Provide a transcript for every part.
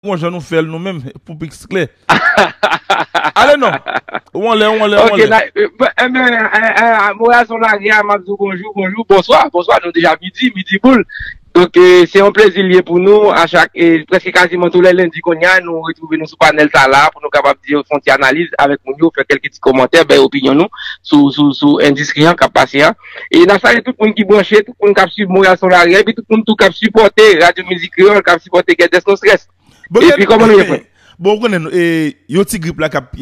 Bon jan nou fèl nou menm pou piks klè. Ale non! Ou anlè, ou anlè, ou anlè. Ok, enben, Moras on lage a, map di w bonjou, bonjou, bonswa, bonswa, nou deja midi, midi boul. Donk, se yon plezi l ye pou nou a chak, preske kaziman tou lè lendi konye a nou retwouve nou sou panèl sa la pou nou kapab di fon ti analiz avèk moun yo, fè kèlke ti komantè, bay opinyon nou sou, sou, sou endistri an kap pase a. E n ap salye tout moun ki branche, tout moun k ap swiv Monreyal Son Lari a, epi tout moun tou k ap sipòte Radyo Mizik Kreyòl, k ap sipòte Gèdès Non Strès. Epi kòman nou ye fwè? Bon ou konnen yon ti grip la k ap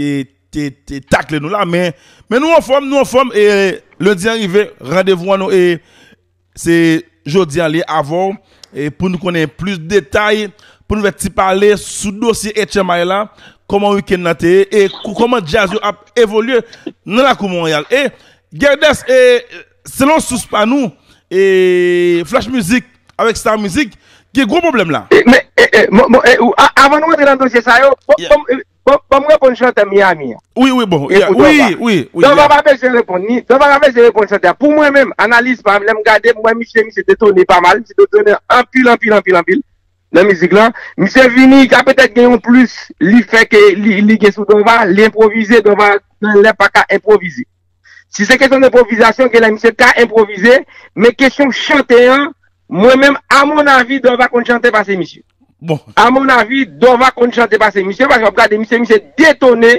te takle nou la men nou anfòm, nou anfòm e lendi an rive randevou an nou e se jodi an li avè w pou nou konnen plis detay, pou nou fè ti pale sou dosye Etchanmay la, kòman wikenn nan te ye e kòman djaz yo ap evolye nan lakou Monreyal. E Guerdes e selon sous pa nou e Flash Music avèk Star Music gen gwo pwoblèm la. Men e ou avan nou rantre nan dosye sa yo banm reponn chantè Miami an. Wi wi bon ya wi wi. Dòval pa bezwen reponn ni Dòval pa bezwen reponn chantè a pou mwen menm analiz pam lèm gade mwen misye misye detone pa mal misye detone anpil anpil anpil anpil Nan mizik la, misye vini ka petèt gen yon plis li fè ke li gen sou Dova, li enpwovize, Dova gen lè pa ka enpwovize. Si se kesyon enpwovizasyon, gen lè misye ka enpwovize, men kesyon chante an, mwen menm, a mon avi, Dova konn chante pase misye. A mon avi, Dova konn chante pase misye, paske wap gade misye, misye detone,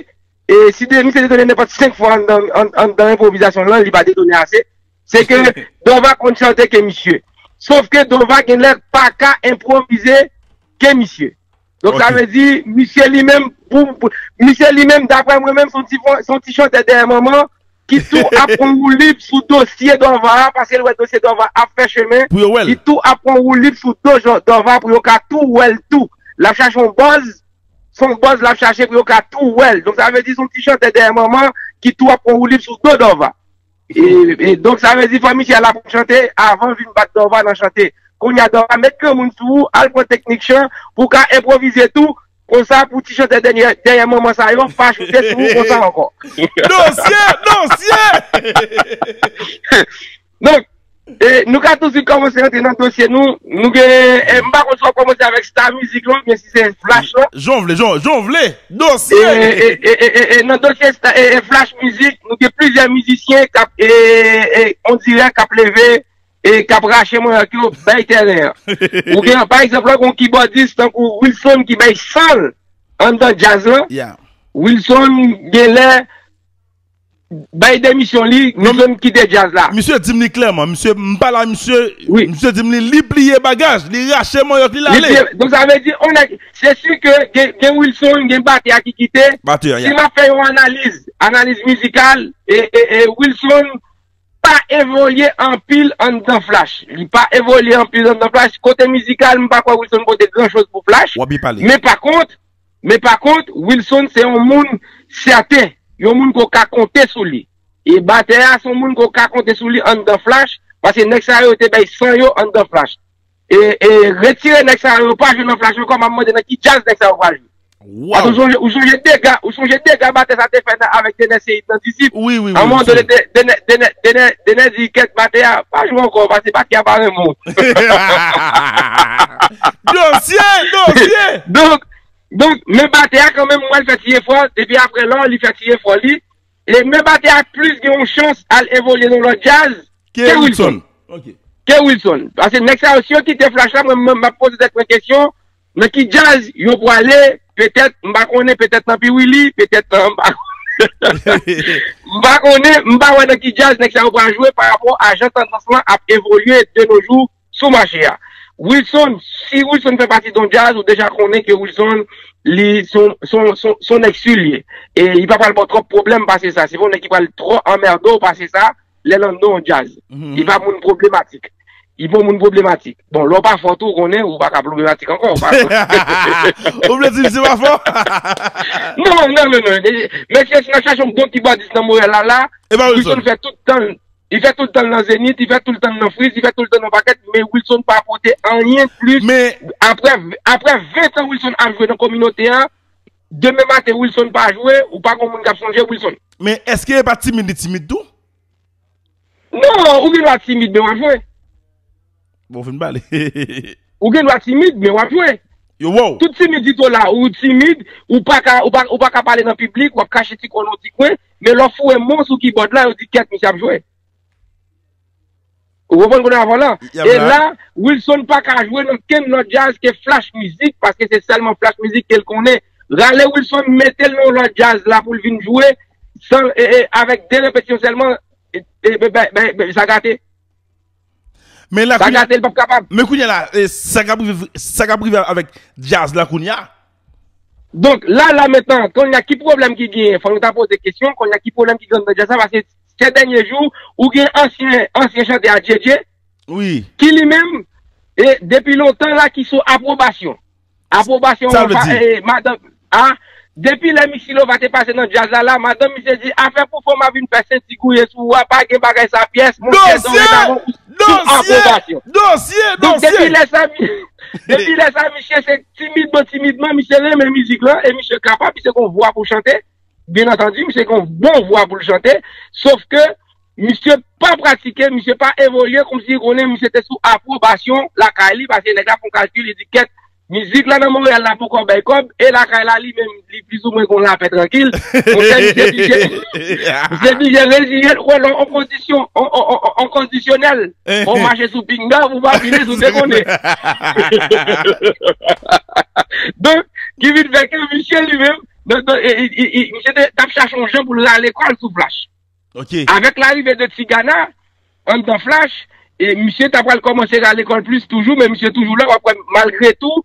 e si misye detone nenpòt 5 fwa anndan enpwovizasyon lan, li pa detone ase. Se ke Dova konn chante ke misye. Sof ke Dova gen lè pa ka enpwovize ke misye. Donk sa vle di misye li menm, misye li menm daprè mwen menm son ti chantè dèyè manman ki tou ap pran woulib sou dosye Dova a paske l wè dosye Dova ap fè chemen. Pou yo wè l. Li tou ap pran woulib sou do Dova pou yo ka tou wè l tou. L ap chache yon buzz, se yon buzz l ap chache pou yo ka tou wè l. Donk sa vle di son ti chantè dèyè manman ki tou ap pran woulib sou do Dova. E donk sa vle di fò misye al aprann chante avan vin bat Dorva nan chante. Kounya Dorva met granmoun sou ou al pran teknik chan pou w ka enpwovize tou konsa pou ti chantè dèyè manman sa yo pa choute sou ou konsa ankò. Dosye! Dosye! Donk. Nou ka tout swit kòmanse rantre nan dosye nou. Nou gen, m pa konn si w ap kòmanse avèk sta mizik lan oubyen si se flash lan. Jan w vle, jan w vle! Dosye! E nan dosye sta, e flash mizik, nou gen plizyè mizisyen k ap, e on dirè k ap leve, e k ap rache manyak yo bay tèren an. Ou gen, pa egzanp lan gen yon kibòdis tankou Wilson ki bay san l anndan djaz lan. Wilson genlè. Bay demisyon li nou menm kite djaz la. Misye dim li klèman misye pale a misye misye dim li li pliye bagaj li rache manyòk li lale. Donk sa vle di yon nèg se si ke gen Wilson gen batè a ki kite si map fè yon analiz analiz mizikal Wilson pa evolye anpil anndan flash li pa evolye anpil anndan flash kote mizikal m pa kwè Wilson pote gran choz pou flash men pa kont Men pa kont, Wilson se yon moun sèten, yon moun ke w ka konte sou li. E batè a se yon moun ke w ka konte sou li anndan Flash, paske nèg sa yo te bay san yo anndan Flash. E retire nèg sa yo, yo pa jwe nan Flash ankò, m ap mande nan ki djaz nèg sa yo pral jwe. Paske ou sonje dega, ou sonje dega batè sa te fè nan avèk Denè Seyid nan Disip. A un moman done, Denè, Denè, Denè di kèt batè a, pa jwe ankò paske batè a pa renmen w. Dosye, dosye! Donk, donk, men batè a kanmenm m wè l fè ti efò, depi aprè lò li fè ti efò li, e men batè a plis gen yon chans al evolye nan lòt djaz ke Wilson. Ke Wilson. Pase nèg sa yo si yo kite Flash la mwen menm m ap poze tèt mwen kesyon Nan ki djaz yo pwale petèt m pa konnen petèt nan piwili petèt nan m pa m pa konnen m pa wè nan ki djaz nèg sa yo pral jwe pa rapò a jan tandans lan ap evolye de no jou sou mache a Wilson si Wilson fè pati don djaz ou deja konnen ke Wilson li son son son son nèg su l ye e li pa pral ba w twòp pwoblèm pase sa se pa yon nèg ki pral twò anmède w pase sa Lè nan non jazz. Li pa moun pwoblematik. Li pa moun pwoblematik. Bon, lè w pa fò tou, ou konnen, ou pa ka pwoblematik ankò. Ou vle di misye pa fò? Non, non, non, non. Mesye, si n ap chache yon bon kibòdis nan Montréal la la, Wilson fè tout tan l. Li fè tout tan l nan Zenith, li fè tout tan l nan Frizz, li fè tout tan l nan pakèt, men Wilson pa pote anyen plis. Aprè 20 tan Wilson ap jwe nan kominote a. Demen maten Wilson pa jwe ou pa gon moun kap sonje Wilson. Men eske epa timid li timid tou. Non ou gen dwa timid men wap jwe. Bon fin pale. Ou gen dwa timid men wap jwe. Yo wè w. Tout timidite w la ou timid ou paka pale nan piblik wap kache ti kò nan yon ti kwen men lè w foure mo sou kibòd la yo di kèt misye ap jwe. Ou konprann kounye a vòlò? Yap la. E la, Wilson pa ka jwe nan kenn lòt djaz ke Flash Music paske se sèlman Flash Music ke l konnen. Rale Wilson mete l nan yon lòt djaz la pou l vin jwe san e e avèk 2 repetisyon sèlman e be be be be sa gate. Men la Sa kounye a, gate l pap kapab. men kounye a la e sa kap rive sa kap rive avèk djaz la kounye a? Donk la la mentan konnya ki pwoblèm ki genyen fò nou ta poze kesyon konnya ki pwoblèm ki genyen nan djaz la paske sè dènye jou ou gen ansyen ansyen chantè a Djédjé wi ki li menm e depi lontan la ki sou apwobasyon apwobasyon sa vle di madanm a depi lè Mixilova te pase nan djaz la la madanm misye di afè pou fanm ap vin fè senti gouye sou ou a pa gen bagay sa pyès mouche doredavon ou sou apwobasyon dosye dosye dosye depi lè sa depi lè sa misye se. Timidman timidman misye renmen mizik lan e misye kapab, misye gen yon vwa pou chante, byen antandi misye gen yon bon vwa pou l chante, sof ke misye pa pratike, misye pa evolye kòmsi li konnen misye te sou apwobasyon lakay li, paske nèg la fè yon kalkil li di kèt, mizik la nan Monreyal la poko bay kòb, e lakay la li menm. li plis ou mwen gon lapè trankil, monchè misye blije, misye blije reziyen l wè lè on kondisyon, on kondisyonèl, ou mache sou pinga ou pa vini sou dekonnen. Donk, ki vin fè ke misye li menm, misye te tap chache on jan pou l rale kò l sou Flash. Ok. Avèk larive de Tigana, anndan Flash, misye ta pral kòmanse rale kò l plis toujou men misye toujou la, wap wè malgre tou,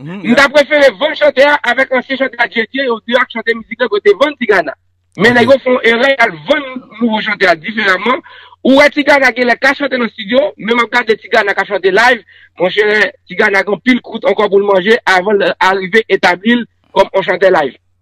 M ta prefere vann chantè a avèk ansyen chantè a Djedje yo 2 ak chantè mizik lan pou yo te vann ti gana men nèg yo fè yon erè yal vann nouvo chantè a diferaman ou wè ti gana genlè ka chante nan studio men map gade ti gana kap chante live monchè ti gana gen anpil kwout ankò poul manje avanl arive etablil kòm yon chantè live.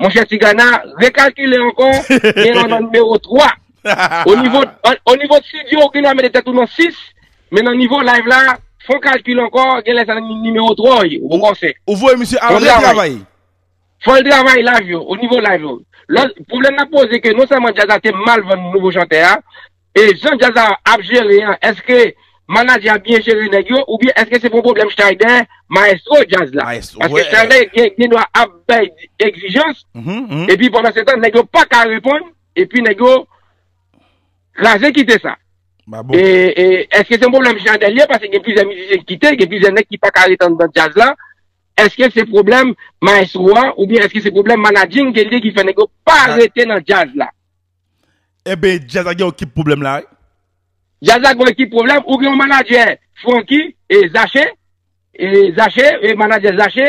Monchè Tigana, rekalkile ankò, gen lè w nan nimewo 3. O nivo studio ou genlè mete tèt ou nan 6, men nan nivo live la, fon kalkil ankò, gen lè sa nan nimewo 3 ou ye, ou bon konsè. Ou voye misye al retravay. Fò l travay live yo, o nivo live yo. Lòt pwoblèm n ap poze ke non sèlman djaz la te mal vann nouvo chantè a, E jan djaz la ap jere an eske manadjè a byen jere nèg yo oubyen eske se pou yon pwoblèm Schneider maestro djaz la paske Schneider gen dwa ap bay egzijans epi pandan se tan nèg yo pa ka reponn epi nèg yo kraze kite sa e eske se yon pwoblèm Schneider li ye paske gen plizyè mizisyen ki kite gen plizyè nèg ki pa ka ret anndan djaz la eske se pwoblèm maestro a oubyen eske se pwoblèm manadjing ke li ye ki fè nèg yo pa rete nan djaz la. Ebyn djazz la gen yon kip pwoblèm la wi. Djazz la gen yon ekip pwoblèm ou gen yon manadjè franky e zache e zache e manadjè zache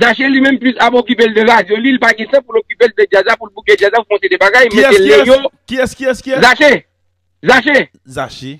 zache li menm plis ap okipel de radyo li li pa gen tan poul okipel de djazz la poul bouke djazz la pou fon seri de bagay metel leyo zache zache.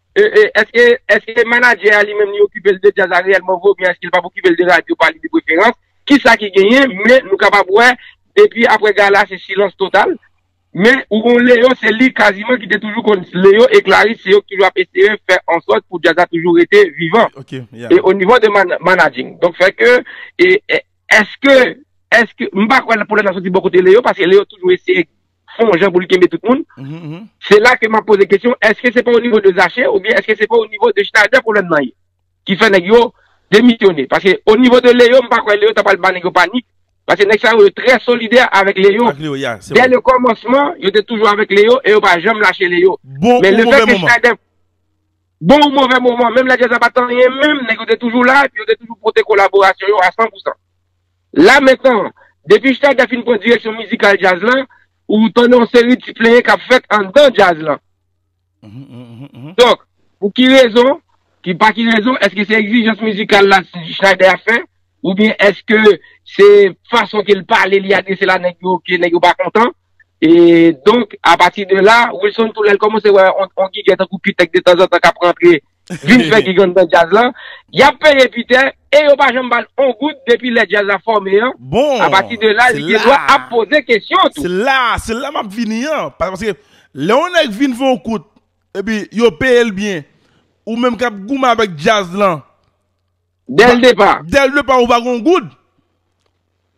Eske eske manadjè a li menm li okipe l de djaz la reyèlman vre oubyen eske l pap okipe l de radyo pa li de preferans? Kisa ki genyen men nou kapab wè depi aprè gala se silans total men ou kon Leo se li kaziman ki te toujou konn Leo e Clarice se yo ki toujou ap eseye fè ansòt pou djaz la toujou rete vivan e onivo de manadjing donk fè ke eske eske m pa kwè pwoblèm nan soti bò kote Leo paske Leo toujou eseye fon jan pou li kenbe tout moun, se la ke m ap poze kesyon, eske se pa o nivo de Zache ou byen eske se pa o nivo de Schneider pwoblèm nan ye? Ki fè nèg yo demisyone. Paske o nivo de Leo, m pa kwè Leo ta pral ba nèg yo panik, paske nèg sa yo yo trè solidè avèk Leo. Dè le kòmansman, yo te toujou avèk Leo e yo pa janm lache Leo. Bon ou move moman. Bon ou move moman, menm lè djaz la pa t anyen menm, nèg yo te toujou la, yo te toujou pote kolaborasyon yo a 100%. La mentan, depi Shtaga fin pran direksyon mizikal djaz la, ou tande yon seri ti plenyen k ap fèt anndan djaz la. Donk, pou ki rezon, ki pa ki rezon, èske se egzijans mizikal la Shnader ap fè, oubyen èske se fason ke l pale, li adrese la nèg yo, ke nèg yo pa kontan? E, donk, apati de la, Wilson tou lè l kòmanse wè yon gigè tankou Q-Tech detanzantan k ap rantre Vin fè gigann nan djaz lan. Yap peye Piter e yo pa janm bal on goud depi lè djaz la fòme an. Bon! A pati de la li gen dwa ap poze kesyon tou. Se la, se la map vini an. Paske lè on nèg vin fè on kout epi yo peyel byen ou menm kap goumen avèk djaz lan. Dèl depa. Dèl depa ou pa gen yon goud.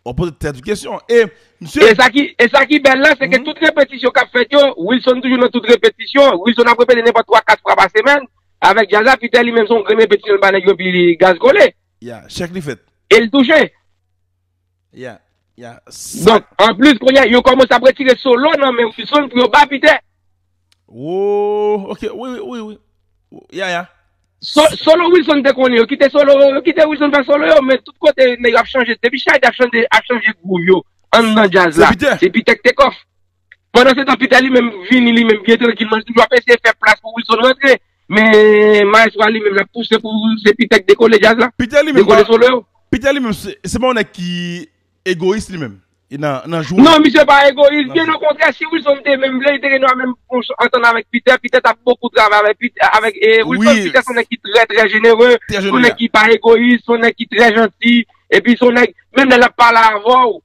Wap poze tèt ou kesyon. E misye. E sa ki bèl la se ke tout repetisyon kap fèt yo, Wilson toujou nan tout repetisyon. Wilson ap repete nenpòt 3, 4 fwa pa semèn. Avèk djaz la, Peter li menm se yon grenn repetisyon li ba nèg yo epi gaz kole. Ya, chèk li fèt. E li touche. Bon, anplis kounya yo kòmanse ap retire solo nan men Wilson pou yo ba Piter. Ooh ok wi wi wi wi ya ya. Solo Wilson te konnen yo kite solo yo kite Wilson fè solo yo men tout kote nèg yo ap chanje depi Shady ap chanje ap chanje groove yo anndan djaz la se Piter ki te kòf. Pandansetan Peter li menm vini li menm byen trankilman li toujou ap eseye fè plas pou Wilson rantre men maestro a li menm lap pouse pou se Peter ki dekole djaz la, dekole solo yo. Peter li menm se pa yon nèg ki egoyis li menm nan jwe. Non misye pa egoyis byen okontrè si Wilson te menm vle li te gen dwa menm antann avèk Peter, Peter tap bokou travay avèk Wilson, Peter son nèg ki trè trè jenere, son nèg ki pa egoyis, son nèg ki trè janti epi son nèg menm lè lap pale avèw.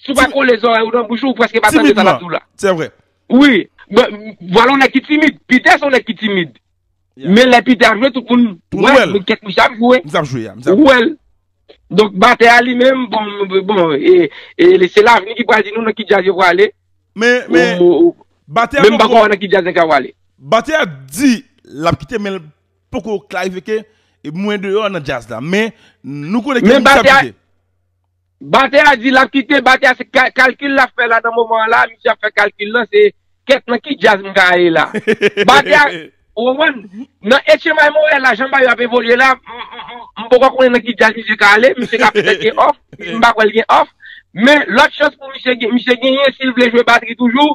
Si w pa kole zòrèy ou nan bouch ou, ou prèske pa tande sa l ap di w la. Timid lan, se vre. Wi, vwala yon nèg ki timid. Piter se yon nèg ki timid. Men lè Piter ap jwe, tout moun wè l. Kèk misye ap jwe. Misye ap jwe a. Ou wè l. Donk batè a li menm, bon, bon, e se lavni ki pral di nou nan ki djaz yo prale. Men, men, batè a poko. Men m pa kwè nan ki djaz nèg sa prale. Batè a di l ap kite men l poko klarifye ke mwen deyò nan djaz la. Men, nou konnen ke misye ap kite. Batè a di lap kite, batè a se kalkil lap fè la nan moman an la, misye ap fè kalkil lan se kèt nan ki djaz m ka ale la. Batè a, ou konprann, nan etchenbay Monreyal la jan bagay yo ap evolye la, m poko konnen nan ki djaz misye ka ale, misye ka petèt gen òf, m pa kwè l gen òf, men lòt chans pou misye, misye genyen si l vle jwe batri toujou,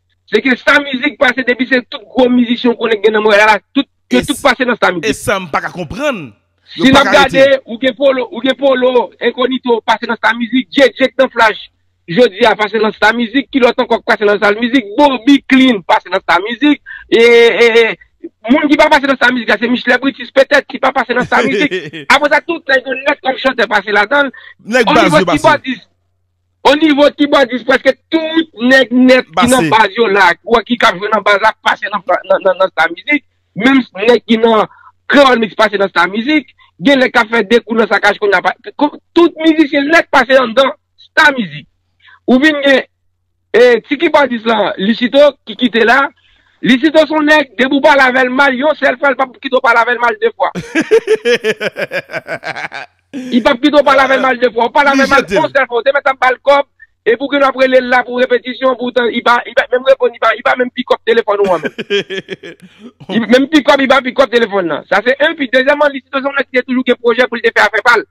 Se ke sa mizik pase depi se tout gwo mizisyen ou konnen ki gen nan Montréal la tout yo tout pase nan sa mizik. Esa m paka konprann. Si nap gade ou gen polo ou gen polo enkonito pase nan sa mizik djek djek nan flash jodi a pase nan sa mizik ki lòt ankò k pase nan sa mizik boby clean pase nan sa mizik ee moun ki pa pase nan sa mizik la se michelet britis petèt ki pa pase nan sa mizik apre sa tout nèg yo nèt kòm chantè pase ladanl onivo kibòdis. O nivo kibòdis prèske tout nèg nèt ki nan baz yo la, ou wè ki kap jwe nan baz la pase nan Star Mizik, menm nèg ki nan Kreyòl Mix pase nan Star Mizik, gen nèg kap fè de kou nan Sakaj kounya pase, tout mizisyen nèt pase anndan Star Mizik. Ou vin gen ti kibòdis la Licito ki kite la, Licito son nèg depi ou pale avèl mal yon sèl fwa li pap kite ou pale avèl mal de fwa. Li pap kite w pale avèl mal 2 fwa, ou pale avèl mal on sèl fwa ou te mèt ap bal kòb e pou kinn wap relel la pou repetisyon pou tan li pa menm reponn li pa menm pikòp telefòn ou an menm menm pikòp li pa pikòp telefòn nan sa se 1 pi dezyèman li sipoze yon nèg ki te toujou gen pwojè pou li te fè afè pal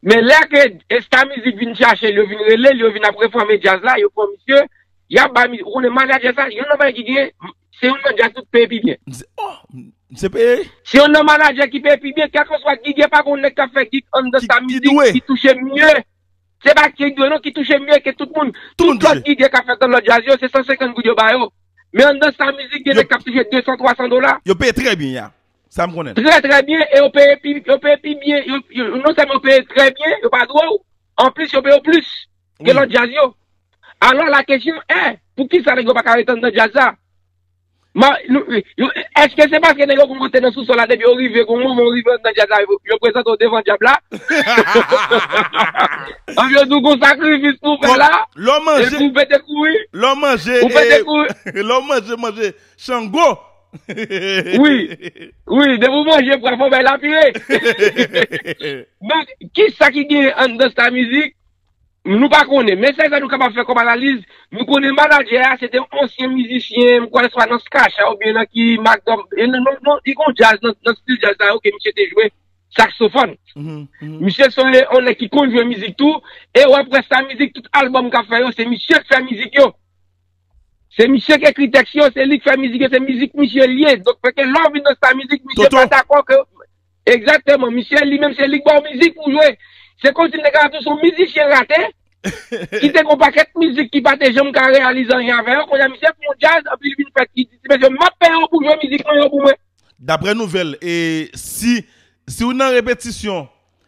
men lè ke esta mizik vinn chache l yo vinn relel yo vinn ap refòme djaz la yo pran misye Yap bay mizik ou konnen manager sa yonn nan bagay ki gen se yonn nan jazz ki peye pi byen. M se oh m se peye. Se yonn nan manager ki peye pi byen kèlkanswa gig e pa gon nèg kap fè gig anndan sa mizik ki touche mye se pa ki dwe non ki touche mye ke tout moun tout lòt gig e kap fèt nan lòt jazz yo se 150 goud yo ba yo men anndan sa mizik gen nèg kap touche 200 300 dola. Yo peye trè byen ya sa m konnen. Trè trè byen e yo peye pi yo peye pi byen yo non sèlman yo peye trè byen yo pa dwe w Anplis yo pe yo plis ke lòt djaz yo. Alò la kesyon è, pou kisa nèg yo pa ka ret anndan djaz la? Eske se paske nèg yo konn monte nan sou sòl la depi yo rive gon moman yo rive anndan djaz la yo prezante yo devan dyab la? Epi yo di w gon sakrifis pou w fè la epi w pete kouri? Lè w manje manje Chango. Wi, wi, depi ou manje pwa fò w bay lapire. Donk, kisa ki genyen anndan sta mizik? Nou pa konnen, men sèl sa nou kapab fè kòm analiz, nou konnen manadjè a se te yon ansyen mizisyen, m kwè swa nan Skah-Shah ou byen nan ki Mack Dom, li gen yon djaz nan stil djaz sa yo ke misye te jwe saksofòn. Misye se yon nèg ki konn jwe mizik tou, e w ap wè sta mizik tout albòm k ap fè yo se misye k fè mizik yo. Se misye k ekri tèks yo, se li k fè mizik yo, se mizik misye l ye. Donk fè ke lè w vin nan sta mizik misye pa dakò ke. Egzakteman. Misye li menm se li k ba w mizik pou w jwe. Se kòmsi m te ka ap di w se yon mizisyen rate ki te gen yon pakèt mizik ki pa te janm ka reyalize anyen avè yo. Kounye a misye fè yon djaz epi li vin fè li di ti mesye m ap peye w pou w jwe mizik mwen yo pou mwen. Daprè nouvèl e si si w nan repetisyon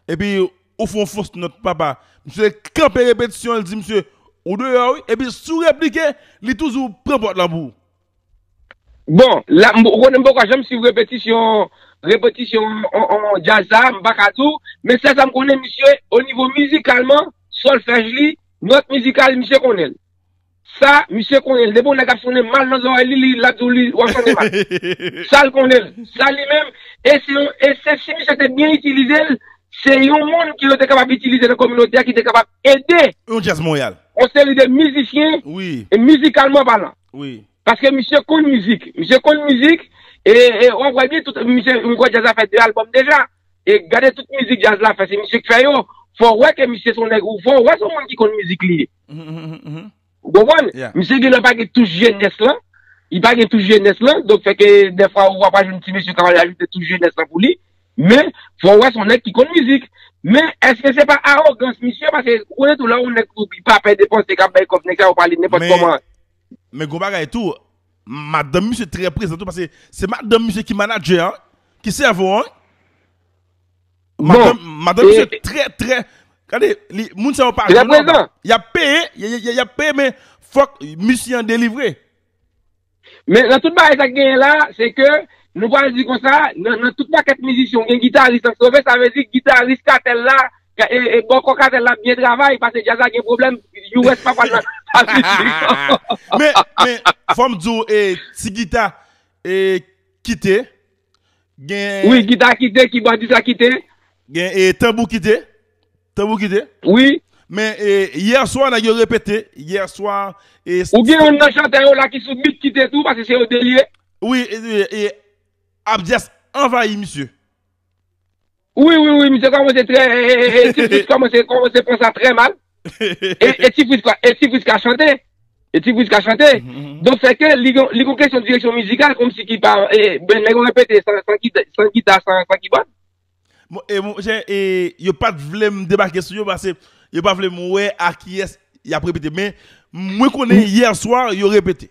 Epi ou fon fos nòt papa. Misye kanpe repetisyon li di misye ou deyò wi epi si w replike li toujou pran pòt lan pou ou. Bon, la m konnen m poko janm swiv repetisyon repetisyon djaz sa a, m pa ka di w, men sèl sa m konnen misye onivo mizikalman, sòlfèj li, nòt mizikal li misye konnen l. Sa misye konnen l depi yon nèg ap sonnen mal nan zòrèy li li lap di w li wap sonnen mal sa l konnen l sa li menm e se yon e se si misye te byen itilize l se yon moun ki yo te kapab itilize nan kominote a ki te kapab ede Yon djaz Monreyal. yon seri de mizisyen Wi. e mizikalman palan Wi. paske misye konn mizik misye konn mizik e e wap wè byen tout misye m kwè djaz la fè 2 albòm deja e gade tout mizik djaz la fè se misye k fè yo fò w wè ke misye se yon nèg ou fò w wè se yon moun ki konn mizik li ye. Ou konprann? Misye genlè pa gen touch jenès lan. Li pa gen touch jenès lan. Donk fè ke dèfwa ou apa jwenn ti mesye k ap al ajoute touch jenès lan pou li. Men, fò ou wè se yon nèg ki konn mizik. Men, èske se pa awogans misye? Paske, ou konnen tou lè yon nèg ki pa pè depanse, k ap bay kòb nèg sa yo pale nenpòt kòman. Men gon bagay tou, madanm misye trè prezan tou paske se madanm misye ki manadjè an, ki sèvo an wi. Madan madan misye trè trè Gade li moun sa yo pa jwenn non ba Yap peye yap peye men fòk misye an delivre. Men nan tout bagay sa k genyen la se ke nou pral di konsa nan tout pakèt mizisyen ou gen gitaris k ap sove sa vle di gitaris katèl la e bòkò katèl la ap byen travay pase djaz la gen pwoblèm US pa pral nan sa ditou non. Men fòm di w ti gita kite. Gen. Wi, gita kite, kibòdis la kite. Gen e tanbou kite, tanbou kite. Wi. Men e yè swa nèg yo repete, yè swa e. Ou gen youn nan chantè yo la ki sou beat kite tou paske se yo 2 l ye. Wi e abdyès anvayi misye. Wi wi wi misye kòmanse trè e ti fris kòmanse kòmanse pran sa trè mal e ti fris ka e ti fris ka chante e ti fris ka chante donk fè ke li gon li gon kesyon direksyon mizikal komsi ki pa e ben nèg yo repete san san gita san gita san san kibòd. Bon e mon chè e yo pa t vle m debake sou yo pase yo pa vle m wè a kiyès y ap repete men mwen konnen yè swa yo repete.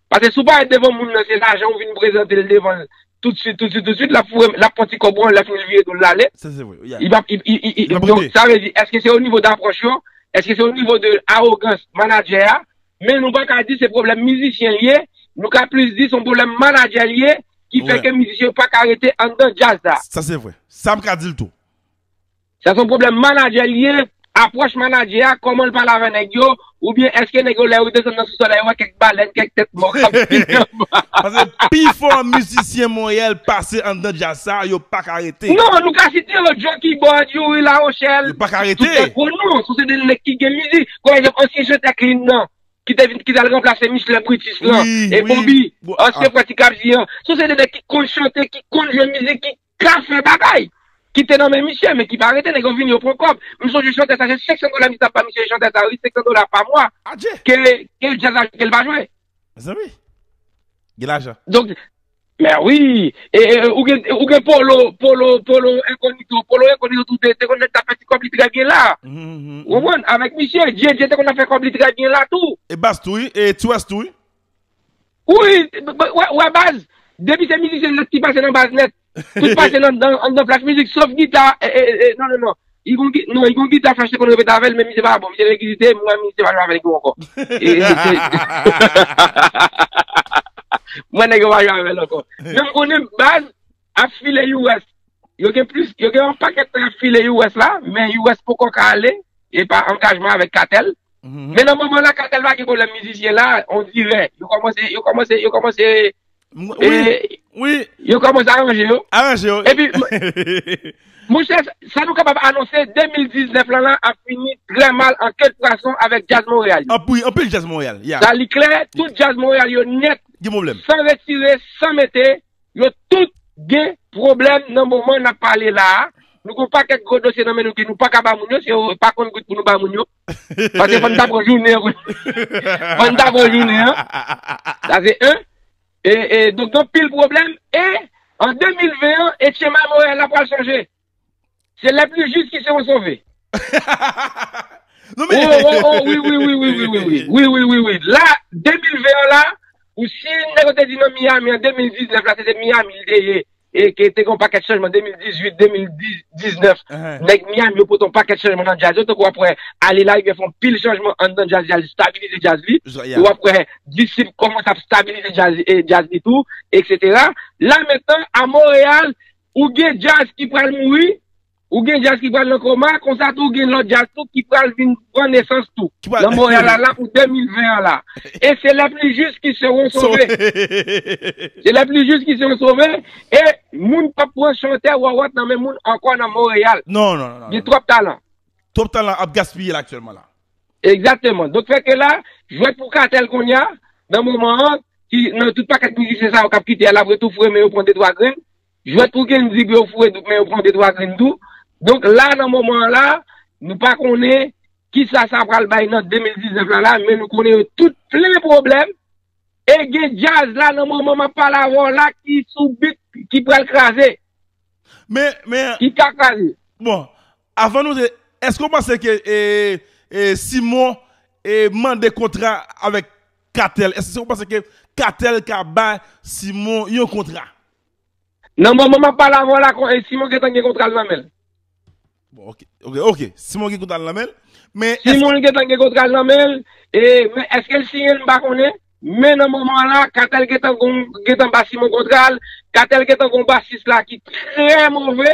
Paske si w parèt devan moun nan se lajan ou vin prezante l devan l toutswit toutswit toutswit l ap foure l ap pran ti kòb ou an lè fini l vire do l l ale. Sa se vre. Li pap donk sa vle di èske se onivo dapròch yo, èske se onivo de awogans manadjè a men nou pa ka di se pwoblèm mizisyen l ye nou ka plis di se yon pwoblèm manadjè l ye ki fè ke mizisyen yo pa ka rete anndan djaz la. Sa se vre. Sa m ka di l tou. Sa son pwoblèm manadjè li ye, apwòch manadjè a, kòman l pale avè nèg yo, oubyen èske nèg yo lè yo desann nan sousòl la yo wè kèk balèn, kèk tèt mò k ap vini anba. Paske pifò mizisyen Monyèl pase anndan djaz sa a, yo pa ka rete. Non, nou ka site yo, Djo Kibòd, Youri Lawochèl, Yo pa ka rete. tout se gwo non, sou se de nèg ki gen mizi. Kon egzanp ansyen chantè K-Lin nan, ki te vin, ki t al ranplase Michelin Brutus lan, Wi, e wi, Bobi, bon, a. ansyen frè Ti Kap Di an. Sou se de nèg ki konn chante, ki konn jwe mizik, ki. Ka fè bagay! Ki te nan men misye, men ki pa rete, nèg yo vini yo pran kòb. M sonje chantè sa se 500 dola misye t ap ba misye chantè sa wi 500 dola pa mwa Adje! ke djaz la jwe ke l pa jwe. Mezanmi! Gen lajan. Donk, mè wi! E ou gen ou gen Polo, Polo, Polo Enkonito, Polo Enkonito tou te konn nèk k ap fè ti kòb li trè byen la. Ou konprann? Avèk misye, Djedje te konn ap fè kòb li trè byen la tou. E Bas tou wi, e Ti Wès tou wi. Wi, ou wè baz, depi se mizisyen nèt ki pase nan baz nèt, tout pase nan anndan flash mizik, sof gita, e, e, e, non, non, non, y gon gita, non, y gon gita flash te konn repete avè l, men misye pa bon, misye regizite, m wè misye pa jwe avè nèg yo ankò. E, e, se, m wè nèg yo pa jwe avè l ankò. Men m konnen baz. ap file US yo gen plis yo gen yon pakèt tan yap file US la men US poko ka ale e pa angajman avèk katèl men nan moman la katèl pa gen pwoblèm mizisyen la on dirè yo kòmanse yo kòmanse yo kòmanse yo kòmanse aranje yo aranje yo epi monchè sa nou kapab anonse 2019 lan la ap fini trè mal an ke de fason avèk djaz Montréal yo wi anpil djaz Montréal ya sa li klè tout djaz Montréal yo nèt gen pwoblèm san retire san mete Yo tout gen pwoblèm nan moman nap pale la a. Nou gen yon pakèt gwo dosye nan men nou ke nou paka ba moun yo, se pa konn gout pou nou ba moun yo. Paske fò n ta pran jounen an pou n, fò n ta pran jounen an. Sa se 1. E, e, donk gen anpil pwoblèm. E, an 2020 an, e tchema Noël la pral chanje. Se lè pli jis ki se yon sove. Oh oh oh wi wi wi wi wi wi wi wi wi wi la 2020 an la ou si nèg yo te di nan Miami an 2019 la se te Miami li te ye e ke te gen yon pakèt chanjman 2018 2019 nèg Miami yo pote yon pakèt chanjman nan djaz yo tankou wap wè Ale la rivyè fè yon pil chanjman anndan djaz li al stabilize djaz li e wap wè Disip kòmanse ap stabilize djaz li tou eksetera la mentnan a Montréal Ou gen djaz ki pral mouri, ou gen djaz ki pral nan koma, konsa tou gen lòt djaz tou ki pral vin pran nesans tou. Nan Montréal la la pou 2020 an la. E se les plus justes qui seront sauvés. Se les plus justes qui seront sauvés e moun pap pran chantè wawot nan men moun ankò nan Montréal. Non, non, non, non. Gen twòp talan. Twòp talan ap gaspiye la aktyèlman la. Egzateman. Donk fè ke la, jwèt pou katèl konnya, nan moman an, ki nan tout pakèt mizisyen sa yo kap kite a, lap ret tou foure men yo pran de twa grenn. Jwèt pou Gendzi pou yo foure dout men yo pran de twa grenn tou. Donk la nan moman an la, nou pa konnen kisa sa pral bay nan 2019 la la, men nou konnen yo tout plen pwoblèm. E gen djaz la nan moman map pale avè w la ki sou bit ki pral kraze. Men, men. Ki ka kraze. Bon. Avan nou te Eske ou panse ke Simon mande kontra avèk Katel? Eske ou panse ke Katel ka bay Simon yon kontra? Nan moman map pale avèw la Simon gentan gen kontra l nan menl. Bon ok ok Simon gen kontra l nan menl men eske. Simon gentan gen kontra l nan menl men eske l siyen l m pa konnen men nan moman la Katel gentan ba Simon kontra l Katel gentan gen yon basis la ki trè move.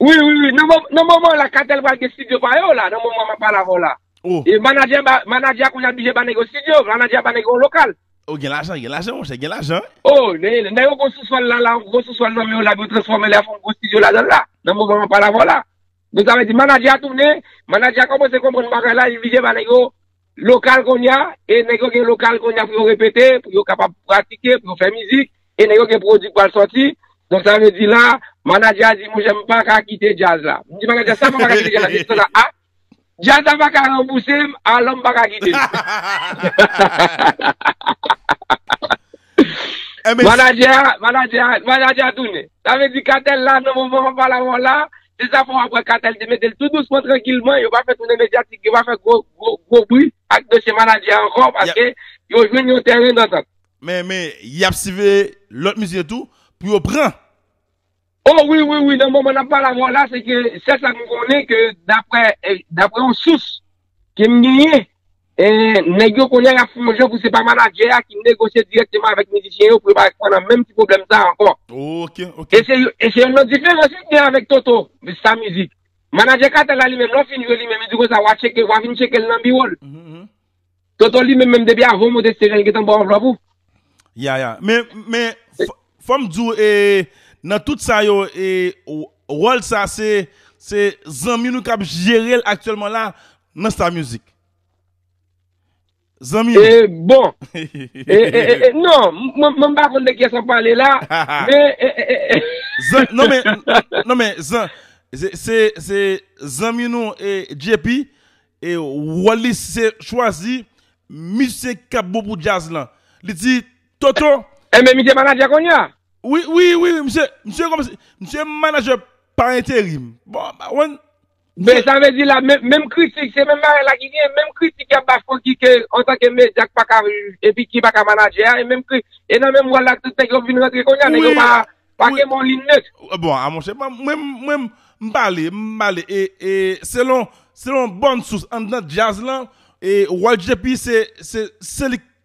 Wi wi wi nan moman la katèl pral gen studio pa yo la nan moman map pale avèw la e manadjè manadjè a konnya bije ba nèg yo studio manadjè a ba nèg yo yon lokal. Oh gen lajan gen lajan monchè gen lajan wi. Oh nèg yo gwo souswèl la la gwo souswèl nan men yo la epi yo transfòmel yap fè yon gwo studio ladanl la nan moman map pale avèw la donk sa vle di manadjè a tounen manadjè a kòmanse konprann bagay la li bije ba nèg yo Lokal konnya, e nèg yo gen lokal konnya pou yo repete, pou yo kapab pratike, pou yo fè mizik, e nèg yo gen pwodi k pral sòti. Donk sa vle di la, manadjè a di monchè m pa ka kite djaz la. M di manadjè a sa m pa ka kite djaz la, li di konsa a, djaz la pa ka ranbouse m, alò m pa ka kite l. Manadjè a tounen. Sa vle di katèl la nan moman wap pale avè w la, Se zafè w ap wè Katèl te mete l tou dousman trankilman, yo pa fè toune medyatik, yo pa fè gwo gwo bri ak dosye manadjè a ankò paske yo jwenn yon tèren dantant. Men men y ap siveye lòt mizye tou pou yo pran. O wi wi wi nan moman n ap pale avè w la se ke sèl sa nou konnen ke daprè yon sous Kem genyen eh nèg yo konnen yap fè yon jan pou se pa manadjè a ki negosye dirèkteman avèk mizisyen yo pou yo pa pran nan menm ti pwoblèm sa ankò. E se yon lòt diferans wi ki gen avèk Toto, Vista Music. Manadjè Katel la li menm lè w fin jwe li menm li di konsa wa tcheke wa vin tcheke l nan biwo l. Toto li menm menm depi avan w monte stej la li gentan ba w anvlòp ou. Ya ya men Fòm diw e nan tout sa yo e wòl sa se se zanmi nou kap jerel aktyèlman la nan star music. Zanmi nou. E bon e e e non mwen pa konn de kiyès wap pale la men e e e e. Zan non men non men zan se se zanmi nou e JP e wòl li se chwazi misye kap bon pou djazz lan li di Toto. Enben misye manager konnya? Wi, wi, wi, wi misye, misye kòmanse, misye manager pa enterim. Bon, m pa konn. Men sa vle di la menm kritik se menm bagay la ki gen, menm kritik yap bay Francky ke antanke medya k paka epi ki paka manager a, e menm kri, e nan menm wòl la tout nèg yo vin rantre konnya, nèg yo pa pa gen bon lin nèt. Bon a monchè, mwen menm m pale, m pale e, e selon, selon bòn sous anndan djaz lan, e Waltjp se, se li k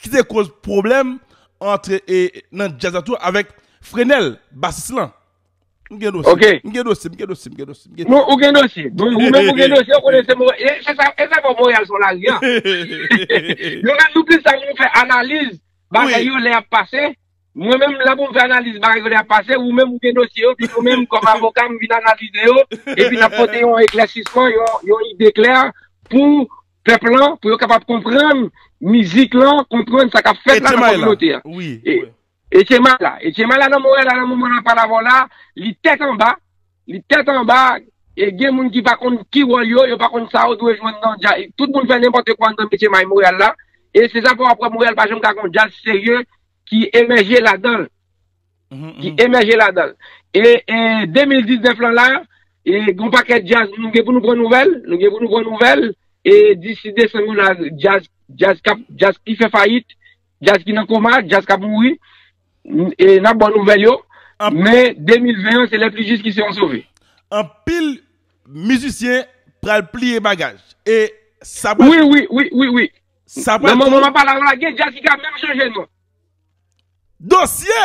ki te koz pwoblèm antre e nan djaz la tou avèk Frenel, basis lan. M gen dosye, Ok. m gen dosye, m gen dosye, m gen dosye, m gen Nou, ou gen dosye. Bon, ou menm ou gen dosye, ou konnen se mo, e, se sa, e sa fè Montréal son lari an. Nou menm nou plis la pou nou fè analiz bagay yo lè yap pase. Mwen menm m la pou m fè analiz bagay yo lè yap pase, ou menm ou gen dosye yo, epi nou menm kòm avoka m vin analize yo, epi n ap pote yon eklèsisman, yon, yon ide klè pou pèp lan pou yo kapab konprann mizik lan, konprann sa k ap fèt la nan kominote an. Echema la. Echema la nan Montréal la nan moman n ap pale avè w la, li tèt anba, li tèt anba e gen moun ki pa konn ki wòl yo, yo pa konn sa yo dwe jwenn nan djaz. Tout moun fè nenpòte kwa nan echemay Montréal la e se sa fè w ap wè Montréal pa janm ka gen yon djaz serye ki emèje ladan l. ki emèje ladan l. E 2019 lan la, gon pakèt djaz nou gen pou nou pran nouvèl, nou gen pou nou pran nouvèl, e disi desanm yo la, djaz, djaz kap, djaz ki fè fayit, djaz ki nan koma, djaz kap mouri, e n ap ba w nouvèl yo, men 2020 an se lè pli jis ki se yon sove. Anpil mizisyen pral pliye bagaj, e sa pral. Wi, wi, wi, wi, wi. Sa pral. Nan moman m ap pale a la, gen djaz ki ka menm chanje non. Dosye!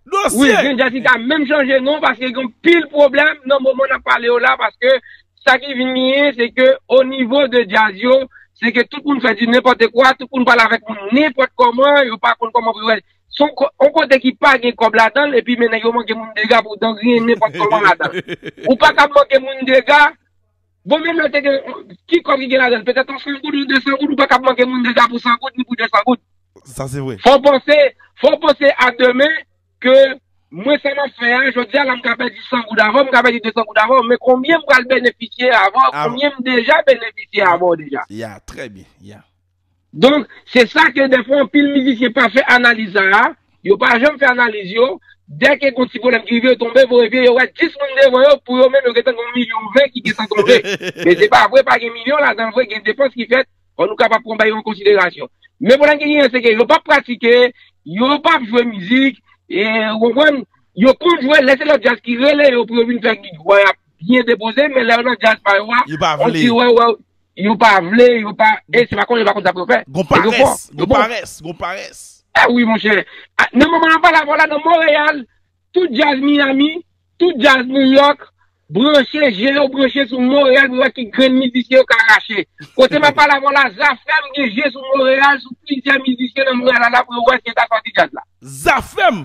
Dosye! Wi, gen jazz ki ka menm chanje non paske gen pil pwoblèm nan moman nap pale yo la paske sa ki vin genyen se ke o nivo de jazz yo se ke tout moun fè di nenpòte kwa, tout moun pale avèk moun nenpòt kòman, yo pa konn kòman pou yo wè. Son on kote ki pa gen kòb ladan l epi men nèg yo manke moun dega pou dan griyen nenpòt kòman ladan l. Ou pa kab manke moun dega. Bon menm lè te gen ki kòb ki gen ladann petèt yon 100 goud yon 200 goud ou pa kab manke moun deja pou 100 goud ni pou 200 goud. Sa se vre. Fò w panse, fò w panse a demen ke mwen sa map fè a jodi a la m ka pèdi 100 goud avè w, m ka pèdi 200 goud avè w men konbyen m pral benefisye avè w, konbyen m deja benefisye avè w deja. Ya, trè byen, ya. Donk, se sa ke dèfwa anpil mizisyen pa fè analiz sa a, yo pa janm fè analiz yo, dè ke gon ti pwoblèm ki rive yo tonbe voye vye, yo wè 10 moun devan yo, pou yo menm yo gentan gon milyon vè ki gentan tonbe. Men se pa vre, pa gen milyon ladan l vre, gen depans ki fèt, anouka pa pran bagay yo an konsiderasyon. Men pwoblèm ki genyen se ke yo pap pratike, yo pap jwe mizik, ou konprann, yo konn jwe lè se lòt djaz ki rele yo pou yo vin fè gig, wè yap byen depoze, men lè yo nan djaz pa yo a, on diw wè yo. Yo pa vle, yo pa, e se pa konnen yo pa konn sa pou yo fè. Gon parès, gon parès, gon parès. E wi monchè, nan moman nap pale avèw la nan Monreyal, tout djaz Miyami, tout djaz Nouyòk, branche je yo branche sou Monreyal pou yo wè ki grenn mizisyen yo ka rache. Kote map pale avèw la, Zafèm gen je sou Monreyal, sou plizyè mizisyen nan Monreyal ala pou yo wè si yo ta sòti djaz la. Zafèm!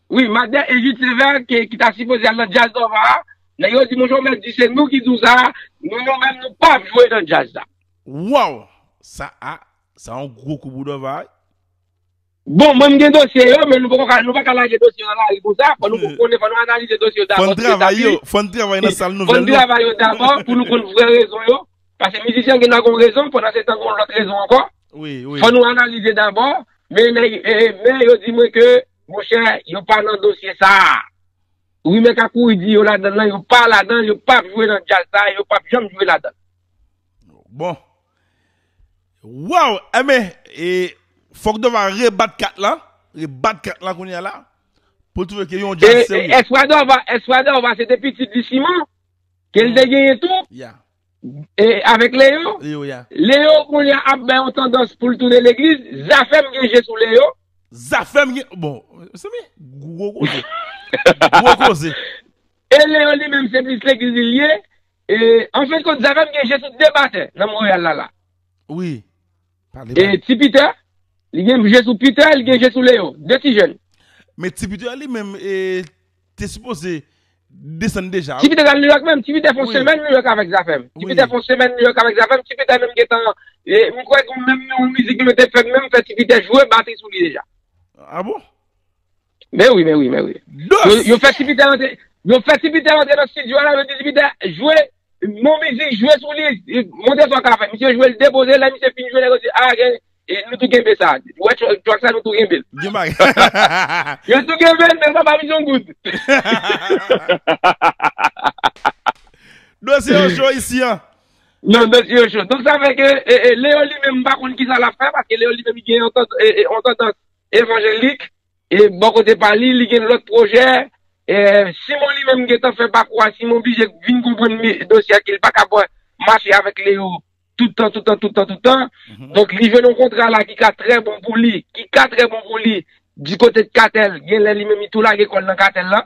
Wi Madè e Jude Sévère ke ki ta sipoze al nan Jazz Nova a, nèg yo di Monchè ou mèt di se nou ki di w sa, nou nou menm nou pap jwe nan Jazz la. Waww sa a sa yon gwo kou pou Dova wi. Bon mwen m gen dosye yo men nou poko ka nou paka lage dosye yo nan lari konsa fò nou konnen fò nou analize dosye yo dabò tout eta pi fò n travay nan sal nouvèl yo fò n travay yo dabò pou nou konn vrè rezon yo pase mizisyen gen dwa gon rezon pandan se tan gon lòt rezon ankò fò nou analize dabò men yo di mwen ke Monchè yo pa nan dosye sa a. Rimè ka kouri di yo ladann lan yo pa ladann yo pap jwe nan djaz sa a yo pap janm jwe ladann. Bon. Waw enben e fòk Dòva rebat kat la, rebat kat la kounya la pou l twouve ke yon djaz serye. E espwa Dòva espwa Dòva se te pitit li Siman ke l te genyen tou? Ya. E avèk Leo? Leo ya. Leo kounye a ap bay yon tandans pou l tounen legliz, Zafèm gen je sou Leo. Zafèm gen, bon, mezanmi, gwo koze. Gwo koze. E Leo li menm se plis legliz li ye, e anfenkont Zafèm gen je sou 2 batè nan Monreyal la la. Wi. E ti Peter? Li gen je sou Peter, li gen je sou Léon. 2 ti jèn. Men ti Peter li menm te sipoze desann deja wi. Ti Peter t al New York menm. Ti Peter fon semèn New York avèk Zafèm. Ti Peter fon semèn New York avèk Zafèm. Ti Peter menm gentan, m kwè gon menm yon mizik nou te fè menm fè ti Peter jwe batri sou li deja. A bon? Men wi, men wi, men wi. Dos! Yo fè Tipitè rantre, yo fè Tipitè rantre nan studio a la, yo di Tipitè, jwe, mon mizik, jwe sou li, montre sa w ka fè. Misye jwe l, depoze l, lè misye fin jwe, nèg yo di, a gen, nou tou kenbe sa. Ou wè track sa nou tou kenbe l. Gen bagay. Yo tou kenbe l, men l pa ba misye yon goud. Dosye yo cho isi an. Non, dosye yo cho. Donk sa fè ke Leo li menm m pa konn kisa l ap fè, paske Leo li menm li gen yon tandans, Evanjelik, e bò kote pa li, li gen lòt pwojè. Simon li menm gentan fè pakou a, Simon bije vin konprann dosye a ke li pa kab mache avèk Leo tout tan, tout tan, tout tan, tout tan. Donk li jwenn yon kontra la ki ka trè bon pou li, ki ka trè bon pou li di kote de Katèl, gen lè li menm li tou lage kò l nan Katèl la.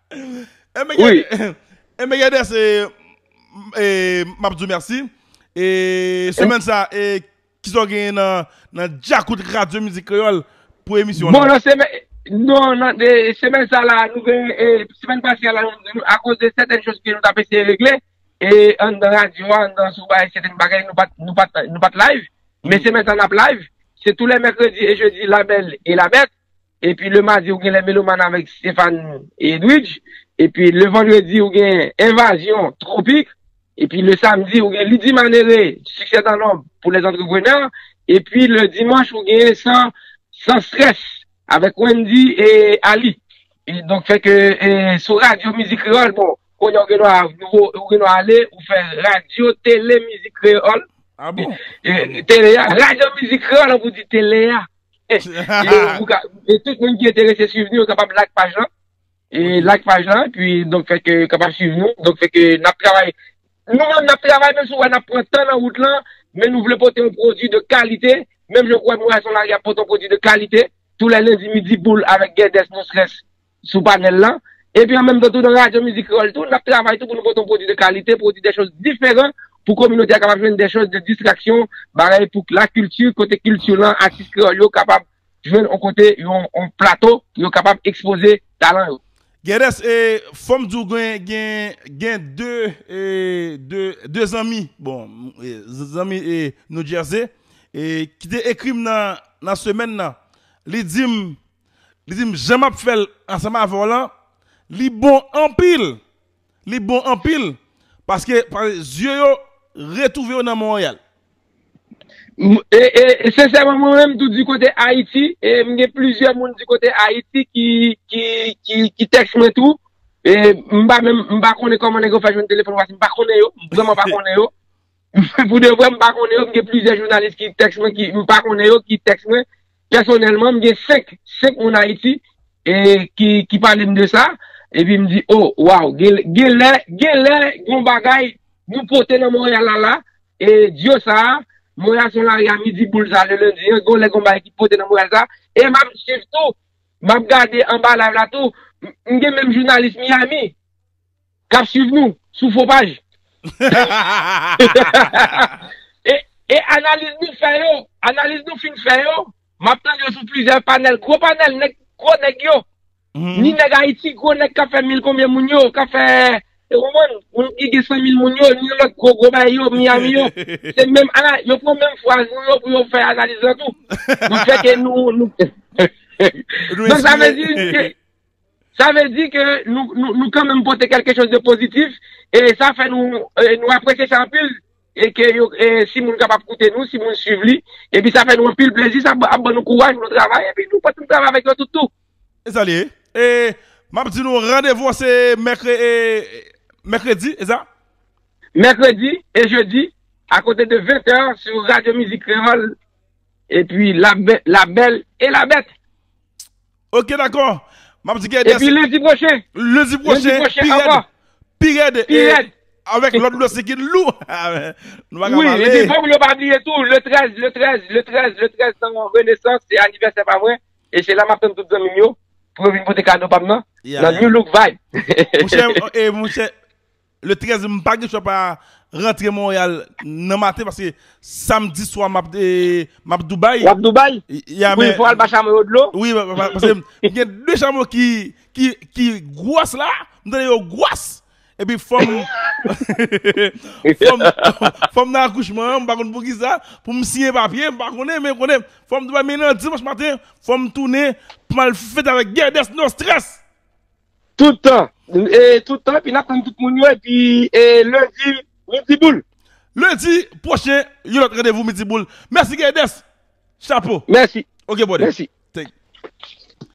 E me gade se mabdou merci e semen sa e kisa w genyen nan djakout radyo mizik kreyol pou emisyon la. Non nan semen sa la nou genyen e semen pase a la nou akoz de seten chos ke nou ta pese regle e an nan radyo an nan sou bay seten bagay nou pat live men semen sa nap live se tou le mèkredi e jodi la bel e la bèt Epi le madi ou gen lè meloman avèk Stéphane et Edwidge, epi le vandredi ou gen envazyon tropik, epi le samdi ou gen Lydie Manere, Succès dans l'ombre pou les entrepreneurs, epi le dimanch ou gen sans stress avèk Wendy et Aly. E donk fè ke sou radyo mizik kreyòl, bon, kounye a ou gen dwa, ou gen dwa ale, ou fè radyo tele mizik kreyòl. A bon? Tele a, radyo mizik kreyòl an pou di tele a. E tout moun ki enterese swiv nou yo kapab like paj lan. E like paj lan, pi donk fèk yo kapab swiv nou. Donk fèk yo nap travay. Nou menm nap travay menm si wè nap pran tan nan wout lan, men nou vle pote yon pwodui de kalite. Menm jan ou wè Moray San Mari ap pote yon pwodui de kalite. Tou lè lendi midi boul avèk Gèdès Monstres sou panèl la. Epi an menm tan tou nan radyo mizik kreyòl tou, n ap travay tou pou nou pote yon pwodui de kalite, pwodui de chòz diferan pou kominote a kapab jwenn de chòz de distraksyon, bagay pou k lakilti, kote kilti lan, atis kreyòl yo kapab jwenn yon kote, yon plato pou yo kapab ekspoze talan yo. Gèdès, e fò m di w gen, gen de, e de, de zanmi, bon, zanmi e Noujèze, e ki te ekri m nan, nan semèn nan, li di m. Li di m jan m ap fè l ansanm avè w lan, li bon anpil. Li bon anpil paske zye yo retwouve yo nan Monreyal. E sensèman mwen menm tou di kote Ayiti, e m gen plizyè moun di kote Ayiti ki tèks mwen tou. E m pa menm, m pa konnen kòman nèg yo fè jwenn telefòn Waf, m pa konnen yo, m vrèman pa konnen yo. Pou de vre, m pa konnen yo, m gen plizyè jounalis ki tèks mwen ki, m pa konnen yo ki tèks mwen. Pèsonèlman, m gen 5, 5 moun Ayiti e ki pale m de sa. E pi m di, o, waw, gen lè, gen lè, yon bagay nou pote nan Monreyal la la, e dyo sa a, Monreyal son lari a midi boul sa a le lendi an, gen lè gen yon bagay ki pote nan Monreyal sa a. E m ap swiv tou, m ap gade anba live la tou, m gen menm jounalis Miami. kap swiv nou sou fo paj e analiz nou fè yo analiz nou fin fè yo map tande yo sou plizyè panèl gwo panèl nèg gwo nèg yo ni nèg ayiti gwo nèg kap fè mil konbyen moun yo kap fè ou konprann moun ki gen sanmil moun yo ni lòt gwo gwo bagay yo miyami yo se menm ana yo pran menm fraz nou yo pou yo fè analiz la tou nou fè ke nou nou donk sa vle di ke. Sa vle di ke nou kanmenm pote kelke choz de pozitif e sa fè nou apresye sa anpil e ke si moun kapab koute nou, si moun swiv li, epi sa fè nou anpil plezi, sa ap ban nou kouraj pou nou travay epi nou kontinye travay avèk yo tout tou. E sa li ye. E map di nou randevou an se mèkredi, e sa? Mèkredi e jedi a kote de 20 tè sou Radyo Mizik Kreyòl epi la bèl e la bèt. Ok dakò Map di Guèyder Epi lendi pwochen Lendi pwochen Pi rèd Pi rèd Pi rèd Avèk lòt dosye ki lou Nou paka pale Wi epi fòk nou pa bliye tou le 13 le 13 le 13 le 13 nan renesans se anivèsè pa mwen e se la map tann tout zanmim yo pou yo vin pote kado pam nan nan Nu Look Vibe Monchè e monchè Le 13 m pa gen chwa pa rantre Montreal nan maten paske samdi swa map map Dubai. Wap Dubai? Yeah men. Wi fò al ba chamo yo dlo. Wi paske m gen 2 chamo ki ki gwòs la, m tande yo gwòs epi fòm fòm fòm nan akouchman an m pa konn poukisa pou m siyen papye m pa konnen men konnen fòm Dubai men nan dimanch maten fòm tounen pou m al fete avèk Guedes Nostres! Tout tan, e tout tan, epi nap tann tout moun yo, epi e lundi midi boule. Lundi pwochen yon lòt randevou midi boule. Mèsi Guedes! Chapo! Mèsi! Ok brother! Mèsi! Thank you!